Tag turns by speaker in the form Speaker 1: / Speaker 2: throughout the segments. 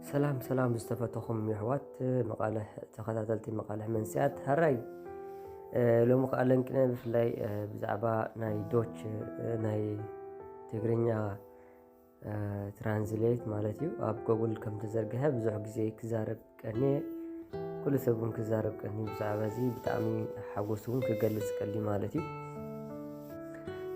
Speaker 1: ሰላም ሰላም ዝተፈተኹም የሕዋት መቃለ ተኸታተልቲ መቃለ መንስያት ሃራይ ሎሚ ከዓ ለንቅነ ብፍላይ ብዛዕባ ናይ ዶች ናይ ትግርኛ ትራንስሌት ማለት እዩ ኣብ ጎጉል ከም ተዘርግሐ ብዙሕ ግዜ ክዛረብ ቀኒየ ኩሉ ሰብ እውን ክዛረብ ቀኒ ብዛዕባ እዚ ብጣዕሚ ሓጎስ እውን ክገልፅ ቀሊ ማለት እዩ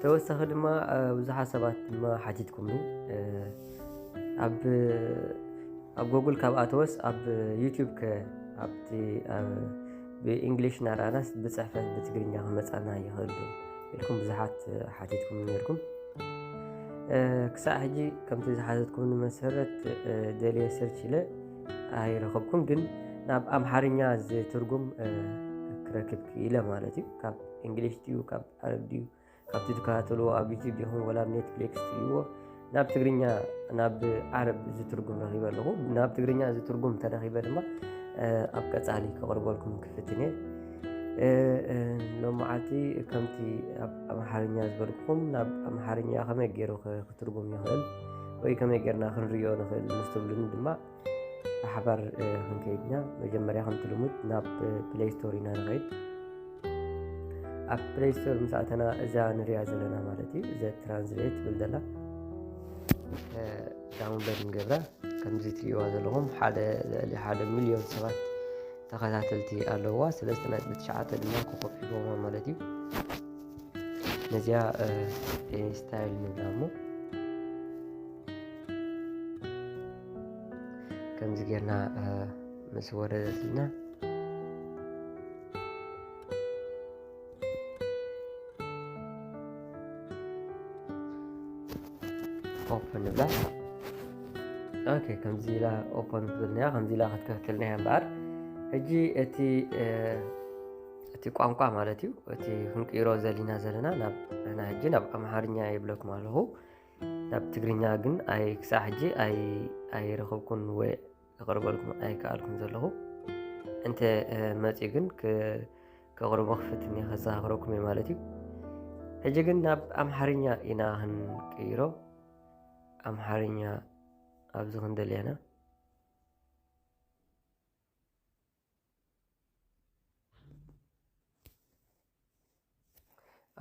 Speaker 1: ተወሳኺ ድማ ብዙሓት ሰባት ድማ ሓቲትኩምኒ ኣብ ኣብ ጎጉል ካብ ኣተወስ ኣብ ዩቲዩብ ከ ኣብቲ ብእንግሊሽ እናረኣናስ ብፅሕፈት ብትግርኛ ክመፃና ይኽእል ዶ ኢልኩም ብዙሓት ሓቲትኩም ነርኩም ክሳዕ ሕጂ ከምቲ ዝሓዘትኩም ንመሰረት ደልየ ሰርች ኢለ ኣይረኸብኩም ግን ናብ ኣምሓርኛ ዝትርጉም ክረክብ ክኢለ ማለት እዩ ካብ እንግሊሽ ድዩ ካብ ዓረብ ድዩ ካብቲ ትከታተልዎ ኣብ ዩቲብ ይኹን ወላ ኣብ ኔትፍሊክስ ትሪእዎ ናብ ትግርኛ ናብ ዓረብ ዝትርጉም ረኺበ ኣለኹ ናብ ትግርኛ ዝትርጉም ተረኺበ ድማ ኣብ ቀፃሊ ከቕርበልኩም ክፍትን እየ ሎመዓልቲ ከምቲ ኣብ ኣምሓርኛ ዝበልኩም ናብ ኣምሓርኛ ከመይ ገይሩ ክትርጉም ይኽእል ወይ ከመይ ጌርና ክንሪዮ ንኽእል ምስ ትብሉኒ ድማ ብሓባር ክንከይድና መጀመርያ ከምቲ ልሙድ ናብ ፕሌይ ስቶር ኢና ንኸይድ ኣብ ፕሌይ ስቶር ምስ ኣተና እዛ ንሪያ ዘለና ማለት እዩ እዘ ትራንስሌት ትብል ዘላ ዳውንሎድ ንገብራ ከምዚ ትሪእዋ ዘለኹም ሓደ ልዕሊ ሓደ ሚልዮን ሰባት ተኸታተልቲ ኣለዋ ስለስተ ነጥቢ ትሽዓተ ድማ ኮኸብ ሒቦማ ማለት እዩ ነዚኣ ስታይል ንብላ እሞ ከምዚ ጌርና ምስ ወረደትና ኦፕን ንብላ ኦኬ ከምዚ ኢላ ኦፕን ትብልናያ ከምዚ ኢላ ክትከፍትልናያ እምበኣር ሕጂ እቲ እቲ ቋንቋ ማለት እዩ እቲ ክንቅይሮ ዘሊና ዘለና ናብ ሕና ሕጂ ናብ ኣምሓርኛ የብለኩም ኣለኹ ናብ ትግርኛ ግን ኣይ ክሳዕ ሕጂ ኣይረኸብኩን ወይ ክቕርበልኩም ኣይከኣልኩም ዘለኹ እንተ መፅኡ ግን ከቕርቦ ክፍትን እየ ከዘኻኽረኩም እየ ማለት እዩ ሕጂ ግን ናብ ኣምሓርኛ ኢና ክንቅይሮ ኣምሓርኛ ኣብዚ ክንደልየና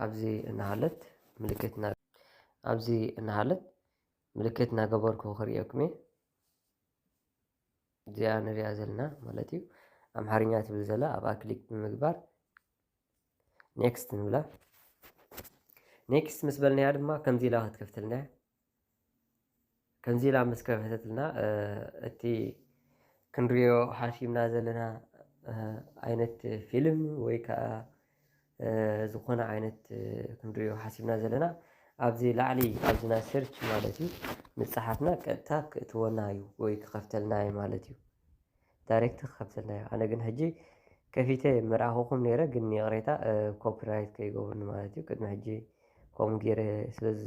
Speaker 1: ኣብዚ እናሃለት ምልክት ኣብዚ እናሃለት ምልክት እናገበርኩ ክርእየኩም እየ እዚኣ ንሪኣ ዘለና ማለት እዩ ኣምሓርኛ ትብል ዘላ ኣብኣ ክሊክ ብምግባር ኔክስት ንብላ ኔክስት ምስ በልናያ ድማ ከምዚ ኢላ ክትከፍተልና እያ ከምዚ ኢላ ምስ ከፈተትልና እቲ ክንሪኦ ሓሲብና ዘለና ዓይነት ፊልም ወይ ከዓ ዝኾነ ዓይነት ክንሪኦ ሓሲብና ዘለና ኣብዚ ላዕሊ ኣብዚና ሰርች ማለት እዩ ምፅሓፍና ቀጥታ ክእትወና እዩ ወይ ክኸፍተልና እዩ ማለት እዩ። ዳሬክት ክከፍተልና እዩ ኣነ ግን ሕጂ ከፊተ ምርኣኹኹም ነይረ ግን ይቕሬታ ኮፒራይት ከይገብሩኒ ማለት እዩ ቅድሚ ሕጂ ከምኡ ገይረ ስለዚ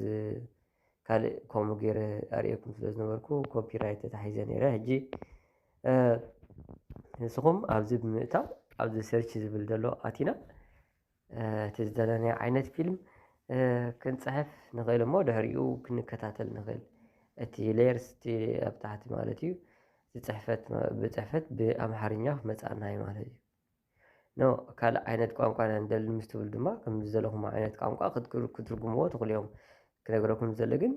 Speaker 1: ካልእ ከምኡ ገይረ ኣርእየኩም ስለ ዝነበርኩ ኮፒራይት ተታሒዘ ነይረ ሕጂ ንስኹም ኣብዚ ብምእታው ኣብዚ ሰርች ዝብል ዘሎ ኣቲና እቲ ዝደለናዮ ዓይነት ፊልም ክንፅሕፍ ንኽእል እሞ ድሕሪኡ ክንከታተል ንኽእል እቲ ሌየርስ እቲ ኣብ ታሕቲ ማለት እዩ ዝፅሕፈት ብፅሕፈት ብኣምሓርኛ ክመፅኣና እዩ ማለት እዩ ኖ ካልእ ዓይነት ቋንቋ ኢና ንደሊ ምስ ትብሉ ድማ ከም ዝደለኹም ዓይነት ቋንቋ ክትርጉምዎ ትኽእሉ እዮም ክነግረኩም ዝደሊ ግን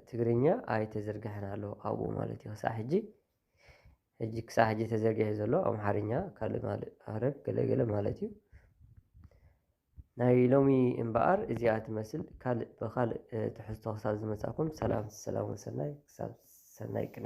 Speaker 1: ትግርኛ ኣይተዘርግሐን ኣሎ ኣብኡ ማለት እዩ ክሳዕ ሕጂ ሕጂ ክሳዕ ሕጂ ተዘርጊሑ ዘሎ ኣምሓርኛ ካልእ ማል- ኣረብ ገለ ገለ ማለት እዩ ናይ ሎሚ እምበኣር እዚኣ ትመስል ካልእ ብኻልእ እ፣ ትሕዝቶ ክሳብ ዝመጻእኩም ሰላም ሰላም ወሰናይ ክሳብ ሰናይ ቅነ